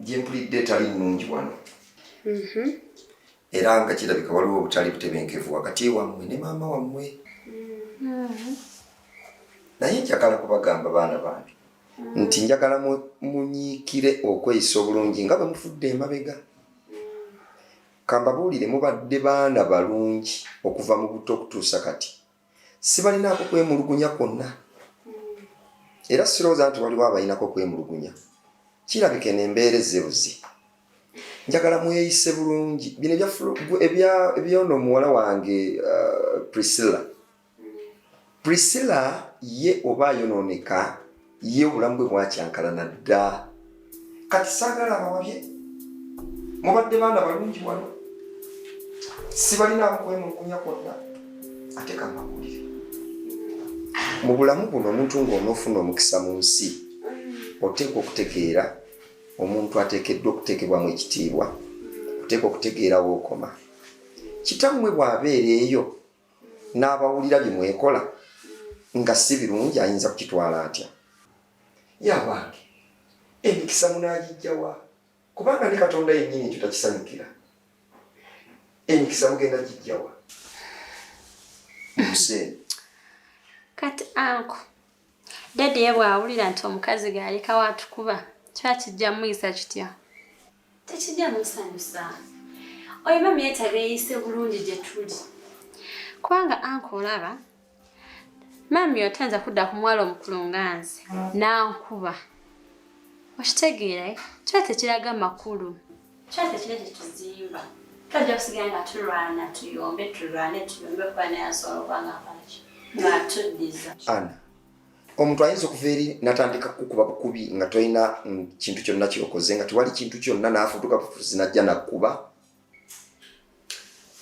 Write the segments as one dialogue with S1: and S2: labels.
S1: gyempulidde etali nnungi wano mm-hmm. era nga kirabika waliwo obutali butebenkevu wakati wammwe ne maama wammwe mm-hmm. naye njagala kubagamba baana bange mm-hmm. nti njagala munyiikire okweyisa obulungi nga bwe mufudde emabega kambabuulire mubadde baana balungi okuva mu butto okutuusa kati sibalinaako kwemulugunya kwonna era sirowooza nti waliwo abalinako kwemulugunya kirabika eno embeera ezebuzi njagala mweyise bulungi bino ebyono omuwala wange uh, priscilla priscilla ye oba ayonooneka ye obulamu bwe bwakyankalana dda kati saagala abawabye mubadde baana balungi wano sibalinamu kwemulugunya kwonna ate kamawulire mu bulamu buno omuntu ng'onoofuna omukisa mu nsi oteekwa okutegeera omuntu ateekeddwa okuteekebwamu ekitiibwa oteekwa okutegeera wookoma kitammwe bw'abeera eyo n'abawulira bye mwekola nga si birungi ayinza kukitwala atya yabange emikisa munagijjawa kubanga ne katonda yennyini ekyo takisanyukira emikisa mugenda gijjawa museeni
S2: kati anko dadi ye bw'awulira nti omukazi gaalekawo atukuba kiba kijja muyisa kitya tekijjamu nsanyusa oyo mami yeetaaga yeeyise bulungi gye tuli kubanga anka olaba mami oyo tayinza kudda ku mwala omukulu nga nze nankuba okitegeera eh? kiba tekiraga makulu kiba tekira gye tuzimba twajja kusigala nga tulwana tuyombe tulwane tuyombe okuba naye asobola okuba nga akolaki nga atuddiza
S1: ana omuntu ayinza okuva eri natandika kukuba bukubi nga tolina mm, kintu kyonna kyokoze nga tewali kintu kyonna nafutuka bufuzi najja nakuba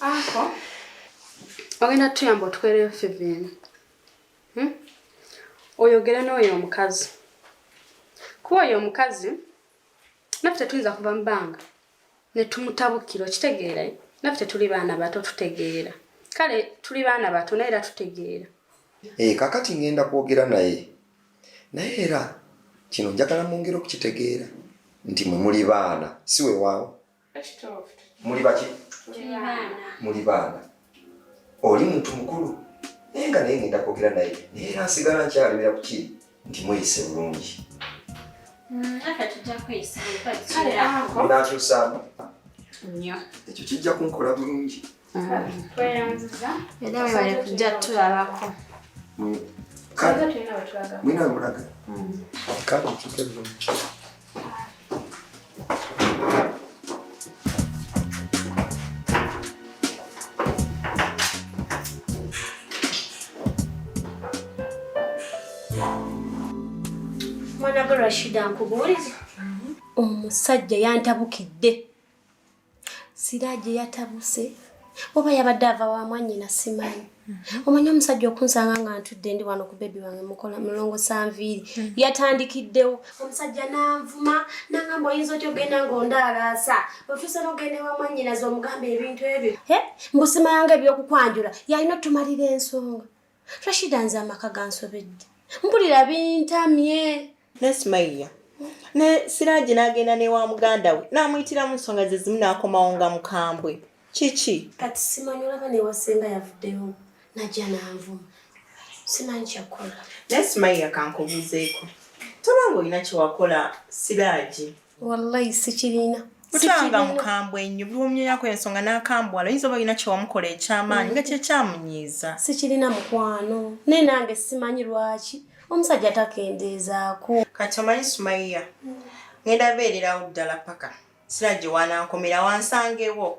S2: ako ogenda tuyamba otukolereyo fivini hmm? oyogere n'oyo omukazi kuba oyo omukazi naffe tetuyinza kuva mu bbanga ne tumutabukira okitegeera eh? naffe tetuli baana bato tutegeera kale tuli baana bato naye era tutegeera e, kakati
S1: ngenda kwogera naye naye era kino njagala mwongere okukitegeera nti mwe muli baana si wewaawo muli baki muli baana oli muntu mukulu naye nga naye ngenda kwogera naye naye era nsigala nkyalemera ku kiri nti mweyise bulungi mm, nakyusaamu
S2: ekyo kijja
S1: kunkola bulungi mm.
S2: era webale kujja tulabako
S1: mm. mwina mulaga kale nkyuke bulungi
S3: Rashida nkubuulize omusajja yantabukidde siraje yatabuse oba yabadde ava wa mwanyina simanyi mhm. omanyi omusajja okunsanga nga ntudde ndi wano ku bebi wange mukola mulongo sanviiri mhm. yatandikiddewo omusajja nanvuma nangamba oyinza otya ogenda ngaondaalaasa otuuse nogenda wa mwanyinazi omugamba ebintu ebyo mbusimayanga ebyokukwanjula yalina otumalira ensonga rashida nze amaka gansobedde mpulira bintamye nesimayiya
S4: ne siraji n'agenda ne wa muganda we n'amuyitiramu nsonga ze zimu n'akomawo nga mukambwe kiki kati simanyi olaba
S3: newasenga yavuddeyo najja nanvuma simanyi kyakukola naye simayiya
S4: kankubuuzeeko toba nga olina kyewakola siraji wallayi
S3: sikirina kutanga
S4: mukambwe nnyo buli omunyonyako ensonga nakambwala oyinza oba olina kyewamukola ekyamaanyi mm. nga kyekyamunyiiza sikirina mukwano
S3: naye nange simanyi lwaki omusajja takendeezaako kati omanyi
S4: sumaiya ngenda beererawo ddala paka sira gye wanankomera wansangewo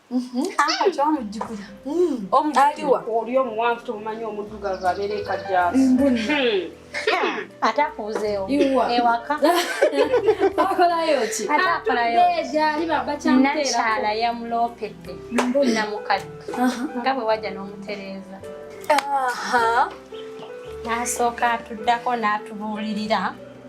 S2: Mhm. Ah,
S5: kyamujjukira mm. aliwa
S2: oli omuwanvu tomumanyi omuddugavu abeera ekajjaa hmm. hmm. ate akuuzeewo ewaka
S5: akolayo ki ate akolayo
S2: nakyala yamuloopedde namukadde nga bwe wajja n'omutereeza n'asooka atuddako n'atubuulirira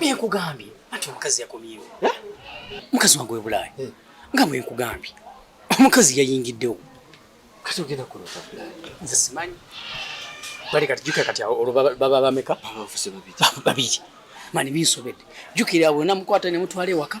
S6: Mie kugambye ati omukazi yakomyewo eh? mukazi wange webulaaya eh. nga bwe nkugambye omukazi yayingiddewo kati
S1: ogenda kulota nze simanyi
S6: bali kati jukira kati olwo baba bameka
S1: babiri
S6: mani binsobedde jukira awo namukwata nemutwala ewaka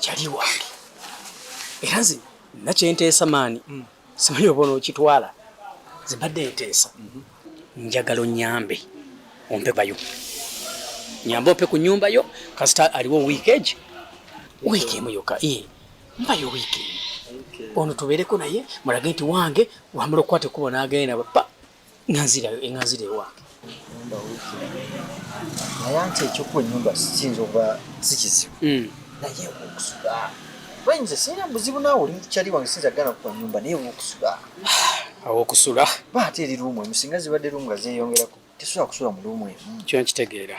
S6: kyali wange era nze nakyenteesa maani mm. simanyi oba onookitwala nze mbadde nteesa mm-hmm. njagala onyambe ompe bayo nyambe ompe ku nyumba yo kasita aliwo wiiki egi wiiki emu yoka e mbayo wiiki emu ono tubeereko naye mulage nti wange wamala okukwata ekkubo n'agenda pa Nanzira yo enganzira ewa. Nyumba wiki.
S1: Naye ante ekyokuwa ennyumba kiyinza okuba si kizibu. Hmm. Naye okusula. Bayinza sirina buzibu naawe oli mukyali wange siyinza kugana kukuwa nnyumba naye okusula.
S6: Awokusula. Ba ate eri ruumu emu
S1: singa zibadde ruumu nga zeeyongerako tesobola kusula mu ruumu emu. Kyo nkitegeera.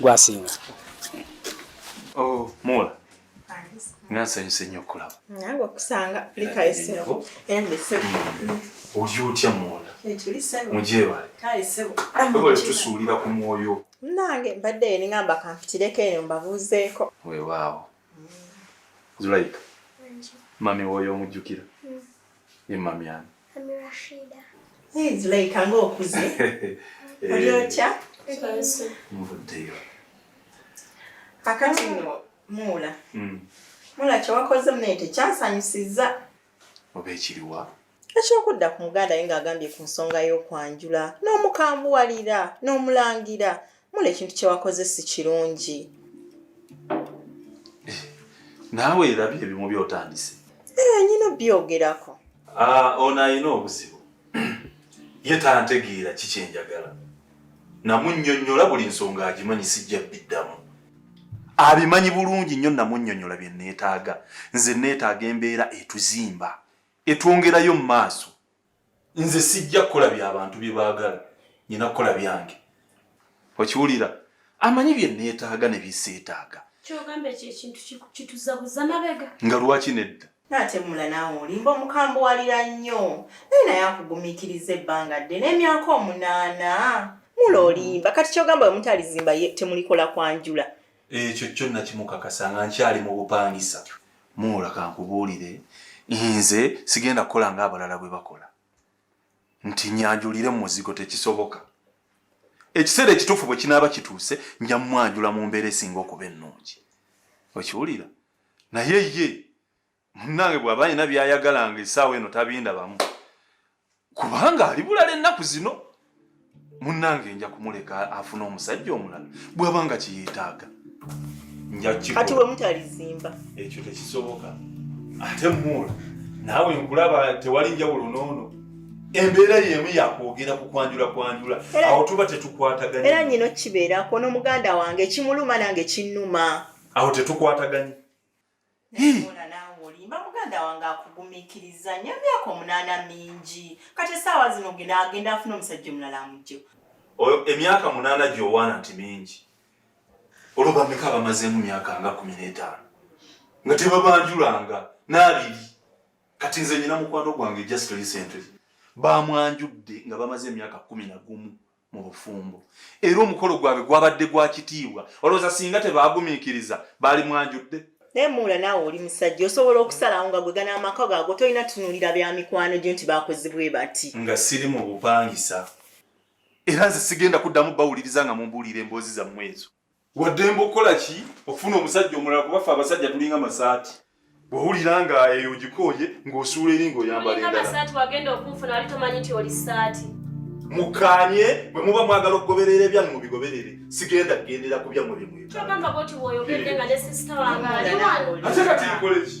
S6: gwasinga
S7: oh, mula nga nsanyuse nnyo okulaba nange okusanga
S4: likayisebo endesebo oli
S7: otya mwola
S4: mugyebale tusuulira
S7: ku mwoyo nange mbadde
S4: eningamba kampitireko eyo mbabuuzeeko wewaawo
S7: zulaika mami woyo omujjukira Ye mami ani? Mami Rashida.
S8: Hey, Zulaika
S4: nga okuze. Eh. Oli otya?
S7: Mvuddeyo.
S4: Kakati nno muula. Hmm. Muula kye wakoze munaye tekyansanyusizza. Oba
S7: ekiriwa? Ekyokudda ku
S4: muganda ye ng'agambye ku nsonga y'okwanjula n'omukambuwalira n'omulangira mula ekintu kyewakoze si kirungi
S7: eh, naawe era byo ebimu byotandise eh, nyina
S4: byogerako ah, ono
S7: alina obuzibu ye tantegeera kikyenjagala namunyonyola buli nsonga agimanyi sijja biddamu abimanyi bulungi nnyo namunyonyola bye neetaaga nze neetaaga embeera etuzimba etwongerayo mu maaso nze sijja kukola bya bantu bye baagala nyina kukola byange okiwulira amanyi bye neetaaga ne biseetaaga kyogamba ekyo ekintu
S3: kituzabuza mabega nga lwaki nedda
S7: natemula naawe
S4: olimba omukambuwalira nnyo naye naye akugumikiriza ebbanga dde n'emyaka omunaana mula olimba kati kyogamba wemutalizimba temulikola kwanjula ekyo kyo
S7: nakimukakasa nga nkyali mu bupangisa muula kankubuulire nze sigenda kukola nga abalala bwe bakola nti nyanjulire mu muzigo tekisoboka ekiseera ekituufu bwe kinaaba kituuse nja mumwanjula mu mbeera esinga okuba ennungi okiwulira naye ye munnange bw'aba alina by'ayagala nga essaawa eno tabindabamu kubanga ali bulala ennaku zino munnange nja kumuleka afuna omusajja omulala bw'aba nga kiyetaaga
S4: kati we mutalizimba ekyo tekisoboka
S7: ate muula naawe nkulaba tewali njawulo noono embeera yemu yakwogera ku kwanjula kwanjula awo tuba tetukwataganye era nyina okibeerako
S4: n'omuganda wange ekimuluma nange kinnuma awo tetukwataganye
S7: nayeona
S4: naawe olimba muganda wange akugumikiriza nyo emyaka omunaana mingi kati esaawa zino genda agenda afuna omusajja omulala amugjewo oyo emyaka
S7: munaana gyowaana nti mingi olwo bameka abamazeemu myaka nga kumi n'etaano nga tebabanjulanga n'abiri kati nze nyina mukwano gwange just recently bamwanjudde nga bamaze emyaka kumi na gumu mu bufumbo era omukolo gwabwe gwabadde gwa kitiibwa olowooza singa tebaagumiikiriza baali mwanjudde naye muula naawe
S4: oli musajja osobola okusalawo nga gwe gana amaka gaago tolina tunuulira bya mikwano gyo nti baakozebwe bati nga siri mu
S7: bupangisa era nze sigenda kuddamu bawuliriza nga mumbuulira emboozi zammwe ezo waddembe okukola ki okufuna omusajja omulala kuba ffe abasajja tulinga masaati bwowulira nga eyo ogikooye ng'osuula eri ng'oyambala
S3: endalasaati mukanye
S7: bwe muba mwagala okugoberera ebyange mubigoberere sigenda kugendera ku byammwe
S3: byemwetaate kati nkoleki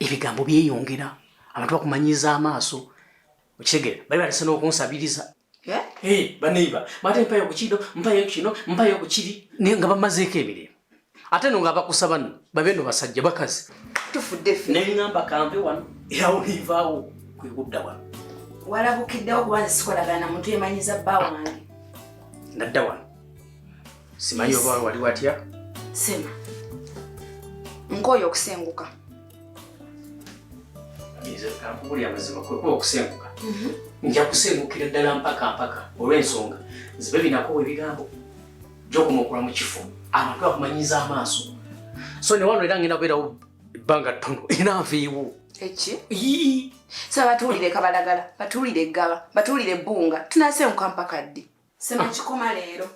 S6: ebigambo byeyongera abantu bakumanyiza amaaso okitegere bali batese n'okunsabiriza eh? eh, baneiba bate mpayo kukino mpayo kukino mpayo kukiri nga bamazeeko emirimu ate no nga abakusaba no babe no basajja bakazi
S8: neŋamba kanve wano
S6: erawo nivaawo kwekudda wano walabukiddewo
S8: kuba nsikolagana muntu emanyiza bba wange nadda
S6: wano simanyi oba wali watya sema
S8: nkooye okusenguka kankubuli
S6: amazima kwekuba okusenguka mhm. nja kusengukira ddala mpaka mpaka olw'ensonga zibe binakowa ebigambo gyokumakula mu kifo abantu bakumanyiza amaaso so newano era ngenda kubeerawo ebbanga ttono era nviiwo eki
S8: sa batuwulire kabalagala batuwulire eggaba batuwulire ebbunga tunasenguka mpaka ddi Sema kikoma leero.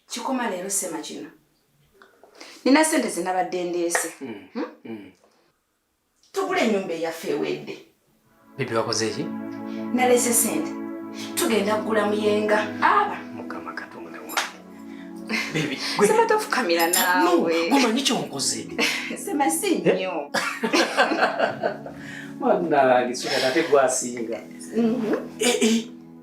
S8: Kikoma leero sema kino. Nina sente zinabadde ndeese. Mm. Hmm? Mm. Tugule ennyumba eyaffe ewedde. Bibi wakoze
S6: ki? Nalese
S8: sente. Tugenda kugula muyenga. Aba. Mukama katonda
S6: wange. Bibi. Sema tofukamira
S8: nawe. No, guma nicho nkoze.
S6: Sema si
S8: eh? nnyo.
S6: Mwana, gisukata tegwasinga. Mhm. Mm eh eh.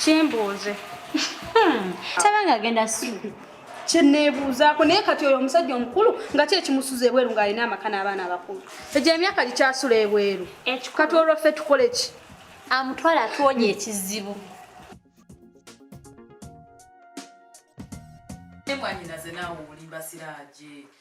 S2: kyembuuze hmm. taba nga agenda suubi kyeneebuuzaako naye kati oyo omusajja omukulu nga ki ekimusuza ebweru ng'alina amaka n'abaana abakulu egyo emyaka gikyasula ebweru kati olwo ffe tukole ki amutwala atuwonya ekizibu
S9: mwanyinaze naawe olimba siraaje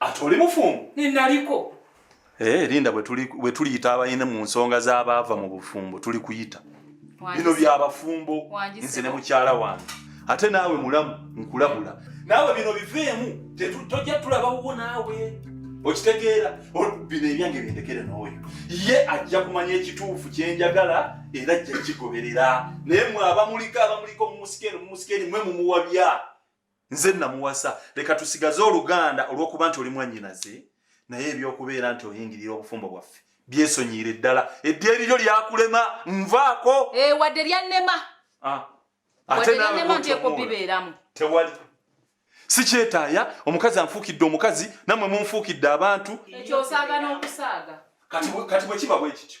S9: ate oli
S7: mufumbo ninaliko
S9: Eh, linda
S7: bwe tuliyita abayina mu nsonga z'abaava mu bufumbo tuli kuyita bino byabafumbo nze ne mukyala wange ate naawe mulamu nkulabula naawe bino biveemu tojja tulabawuwo naawe okitegeera bino ebyange byendekere n'oyo ye ajja kumanya ekituufu kyenjagala era ajja kigoberera naye mwe abamuliko abamuliko mumusikeeni mumusikeeni mwe mumuwabya nze namuwasa leka tusigaze oluganda olwokuba nti oli mwanyinaze naye ebyokubeera nti oyingirira obufumbo bwaffe byesonyiire ddala eddiya eriryo lyakulema nvaako eh, wadde lyannema
S9: ah.
S7: ate nalema nti ekubibeeramu
S9: tewali
S7: sikyetaaya omukazi anfuukidde omukazi namwe munfuukidde abantu ekyo osaaga
S9: n'okusaaga kati bwekiba
S7: bwekityo